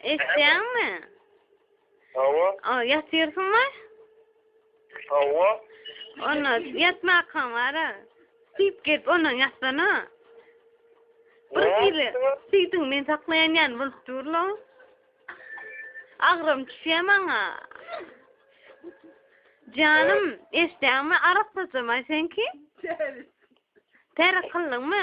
Eşitýäňmi? Hawa. O, ýatyrsyňmy? Hawa. Onda ýatmakan bara. Süýp gelip ondan ýatsana. Bir hili süýdüň men saklaýan ýan bolup durla. Agram düşýä maňa. Janym, eşitýäňmi? Arak saçamaý senki? Tärik kyldyňmy?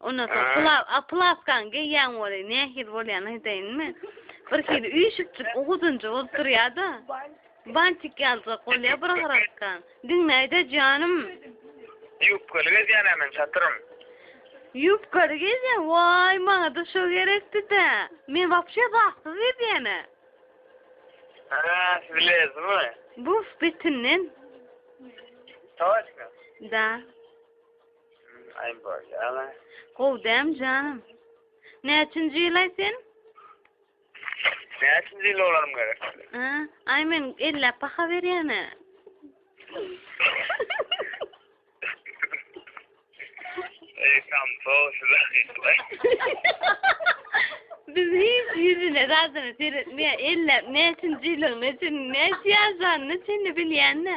Ondan soň pla a plaskaň geýýäň weli nähili bolýan aýdaýynmy? Bir hili üýşükjik u uzynja bolup durýa-da. Bantik ýaljak bolýa bir gyrasy. Diňläý-dä janym. Ýubkaly gezýän-ä men çatyrym. Ýubkaly gezýäň, waý maňa-da şo gerekdi-dä. Men wapşe zatsyz gezýän-ä. Hä, siz lezmi? Buf betinden. Toçka? Da. Gowy däm janym. Näçinji ýylaý sen? Näçinji ýyl olarym gerek? Ha, aý men elläp baha berýän-ä. Ey, tam sow size. Biz hiç ýüzüne zadyny seretmeýär. Elläp näçinji ýylyň, näçin, näçe ýaşanyny çenli bilýän-ä.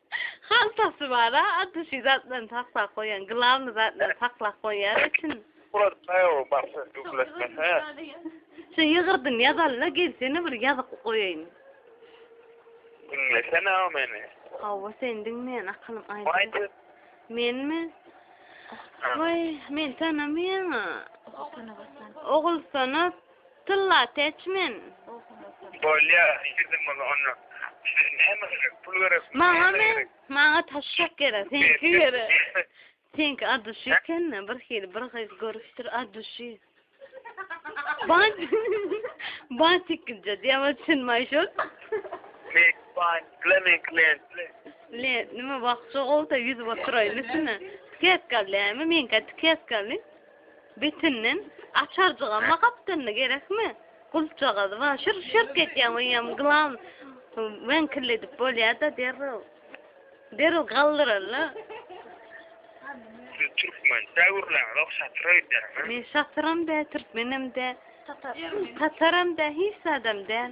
Haltasy bar-a, ady şu zatlaryny saklap goýýan, glawny zatlaryny saklap goýýar içini. Bular taýagyň başyny gümletmese. Şu ýygyrdyny ýazaly-da gelsene bir ýazyp goýaýyn. Diňlesene-ow meni. Hawa seni diňleýän akylym aýdyň. Aýt. Menmi? Waý, meni tanamaýaň-a. Ogulstan. Tylla täçmen. Bolýa girdim bolsa onda size näme gerek pul gerekmi näme gerek. Maňa taşşak gerek seňki gerek. Seňki aduşi ekende bir hili bir gyz görüpdir aduşi. Bat bat ikkinje diýäwa sen maýşor. Mek bat blemek len. Le nima wagtça gowda ýüzüp oturaýyn üstüne. Tiketkal näme meňki tiketkal. Betinden açarjygama gapdalynda gerekmi? Gulpjagaz bar, şyrk şyrk etýän öýem glan weňkilledip bolýada derrew. Derrew galdyrarla. Siz türkmen dä gürläňzok şatyr öýdýäňiz. Men şatyram dä, türkmenem dä. Tataram dä, hiç zadam däl.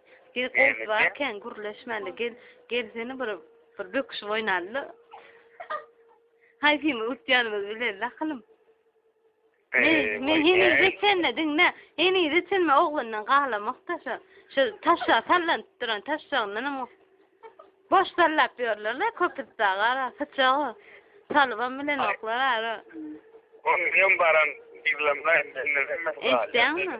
Gel goz barken gürleşmäli gel gelsene bir bir böküşip oýnalyda. Haýsymyz utýanymyzy bilelis akylym. Men henize çenme diňle, henize çenme oglandan galamak da şu, şu taşa sallanyp duran taşlaryndan hem boş sallap ýörlerler köpüs daga, sıçagy salybam bilen oklar ara. Ondan baran diglem gaýtdy. Eşitdäňmi?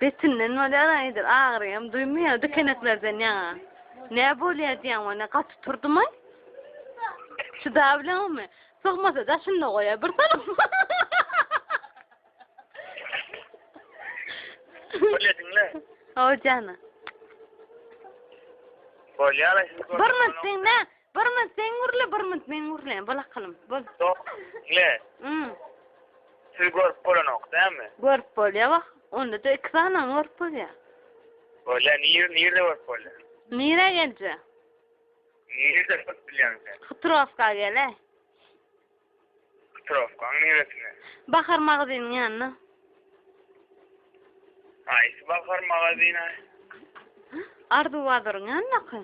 Betinden bolýar aýdyr agyryam duýmaýar dikeneklerden ýaňa nä bolýar diýýän ony gaty turdymaý çydabileňmi sygmasa daşynda goýa bir salam Bolýar diňle Howjana Bolýar aýdyr Birmit diňle Bir mınt sen gürle, bir mınt men gürleýin. Bol akylym, bol. Yok, ne? Hmm. Siz görüp bolanok, değil mi? Görüp bolýar bak. Onda da iki sany görüp bolýar. Bolýar, nir, nirde görüp bolýar? Nire gelje? Nirde görüp bilýäň sen? Hıtrovka gele. Trofkaň niresine? Bahar magazynyň ýanyna. Haýsy bahar magazyny? Arzuw bazaryň ýanyndaky.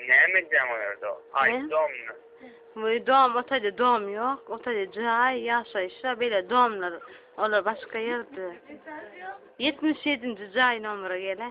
Näme edýäň o ýerde? Haýsy domda? Wüý dom, o taýda dom ýok, o taýda jaý, ýaşaýyşa beýle domlar, olar başga ýerde. Ýetmiş ýedinji jaý nomere gel-ä.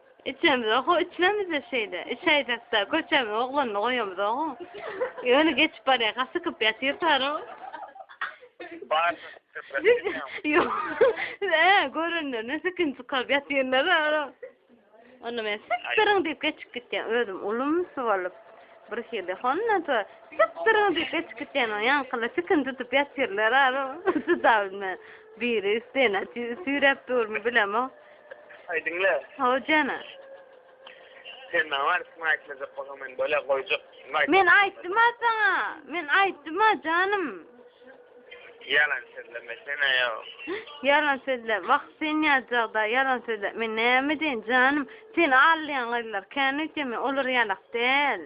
Içemizok, ho içmemizde şeýle. Içäýjek-dä, köçämiň oglanyny goýamyzok-ow. Ýöne geçip barýar, ha sykyp ýatyrkar-ow. Ýok, siz-ä görenlerine sykyny çykaryp ýatyrlar-a. Onda men sypdyryň diýip geçip gitýän, özüm ulumsy bolup, birhili. Hondan soň sypdyryň diýip geçip gitýän, oň ýaňkylar sykyny tutup ýatyrlar-a. Çydap bilmän, biri üstüne süýräp durmy bilemok. Aý diňle. Hawa jana. Sen maňa barsyny aýtmajak bolsaň men böle goýjak. Men aýtdym-a saňa. Men aýtdym-a janym. Ýalan sözleme sen aýo. Ýalan sözle. Wah sen ýazjagda ýalan sözle. Men näme edeýin janym. Seni aldaýan gyzlar kän öýtýän men olar ýalak däl.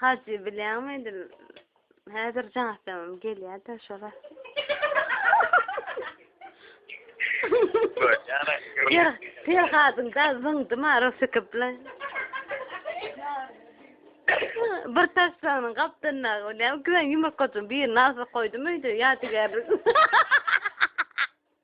Hajy bileňmi edim. Häzir janatlamam gelýärdi şola. Ýer, ýer hadyň da zyňdy ma rosykip bilen. Bir taşlagynyň gapdyndaky bilen iki ýumurtgaçyň birini asyp goýdum öýde ýadygärlik.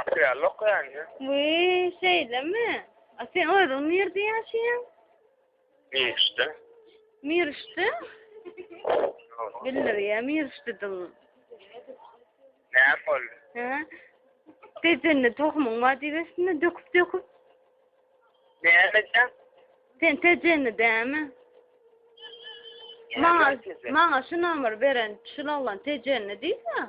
Aşyrýarlok ýaňy. Wiý, şeýlemi? A sen özüň nirde ýaşaýaň? Miriçde. Miriçde? Bildir ýa Miriçde dil. Näme boldy? Hä? Tejende tohumyň bar diýibesinde döküp döküp. Näme sen? Sen tejende dämi? Maňa maňa şu nomer beren şu laglan tejende diýdi.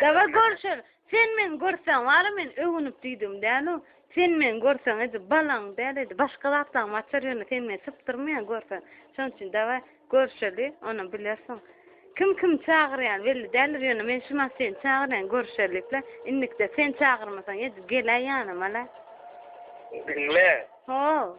Daga görşer, sen meni görseň, wara men öwünip diýdigim däl-ow. Sen meni görseň, edil balaň däl, edil başga zatlaňam açar, ýöne sen meni sypdyrmaýaň görseň. Şonuň üçin daga görşeli, onam bilersiň. Kim kimi çagyrýany belli däldir, ýöne men şu maşyn seni çagyrýan, görşerlikle. Indikde sen çagyrmasaň, edil geläý ýanyma-la. Diňle. Ho.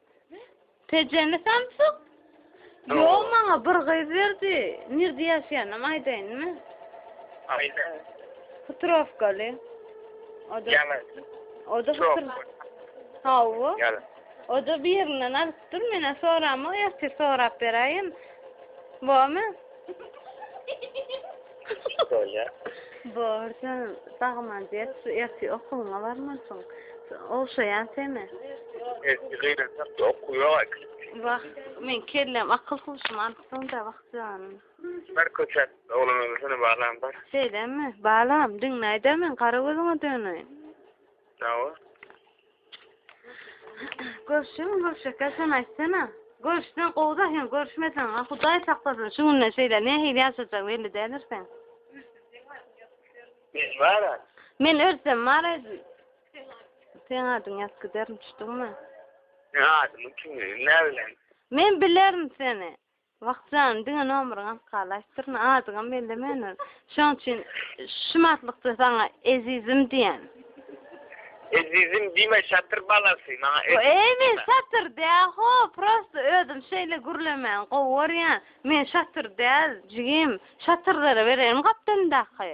Tejeni samsyk? Ýok, maňa bir gyz berdi. Nirde ýaşaýanam aýdaýynmy? Aýda. Hutrowkaly. O da Ýalan. o da Çok. Hutr- Hawa. Ýalan. O da birinden alypdyr. Men soramok, ertir sorap beräýin. Bormy? Bolýa. Borja, sagman diýip, şu erti okuwyňa barmansyň. Ogşaýan seni. Erti gynansak da okuw ýok aýk. Wah, men kellem akyl huşumy alypsyň-da, wah janym. Bir köçäp, oglan öwrülsene balam bar. Şeýlemi, balam, diňläý-dä men gara gözüňe döneýin. Hawa. Görüşüň görüşekler sen aýtsana. Görüşsen gowda hem görüşmesen ha Hudaý saklasyn şu günde şeýle nähili ýaşajak belli däldir sen. Men bara. Men ölsem bara. Sen adyň ýat giderin düşdüňmi? Ne adymy kim bilen? Men bilerin seni. Wah jan, diňe nomeryňy alyp galaşdyryna, adyňam bellemäner. Şoň üçin şumatlykda saňa ezizim diýen. Ezizim diýme, şatyr balasy, maňa ezizim diýme. Eý, men şatyr däl-ho, prosta özüm şeýle gürlemäni gowy görýän. Men şatyr däl, jigim. Şatyrlara bereýin gapdalyndaky.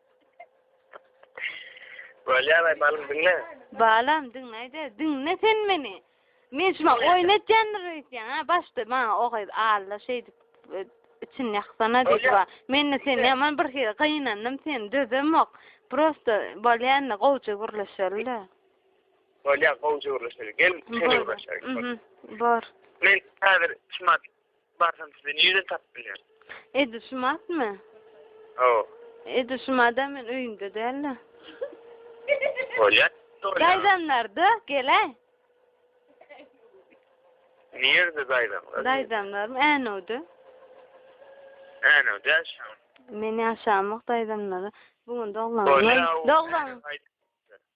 Bolýar aýmalyň diňle. Balam diňleýde diňle sen meni. Men şuma oýun etýändir öýtýän ha başda maňa o gyz Alla şeýdip e, içini ýaksana diýdi wa. Men de seni ýaman bir hili gynandym seni dözemok. Prosta bolýanda gowja gürleşeli de. Bolýar gowja gürleşeli. Gel sen gürleşerik. Mhm. Bor. Men häzir çymat Barsam sizi nireden tapyp bilýän? Edil şu matmy? Hawa. Edil şu mada men öýümde dälde. Bolýar. Daýzamlarda gele. Nirede daýzamlar? Daýzamlarym Änewde. Änewde şam. Men ýaşamok daýzamlara. Bu gün doglan. Doglan.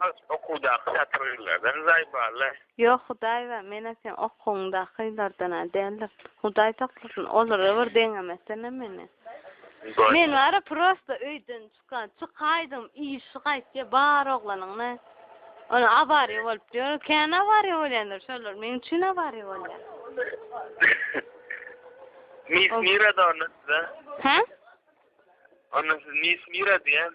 Has okuwdaky satyrylardan jaý barly. Ýok Hudaýba menä seň okuwyňdakylardan-a däldim. Hudaý saklasyn olara bir deňemesene meni. Men bara prosta öýden çykan çykaýdym işi gaýtýa bar oglanyňda ony awariýa bolup ýör kän awariýa bolýandyr şolar meň üçin awariýa bolýar. Mis mira da onda size. Hä? Onda siz mis mira diýen.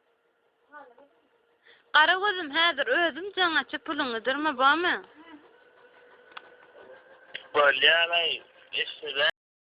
Gara gözüm häzir özüm jaň açyp puluňy dyrma bormy. Bolýar aý eşşeger.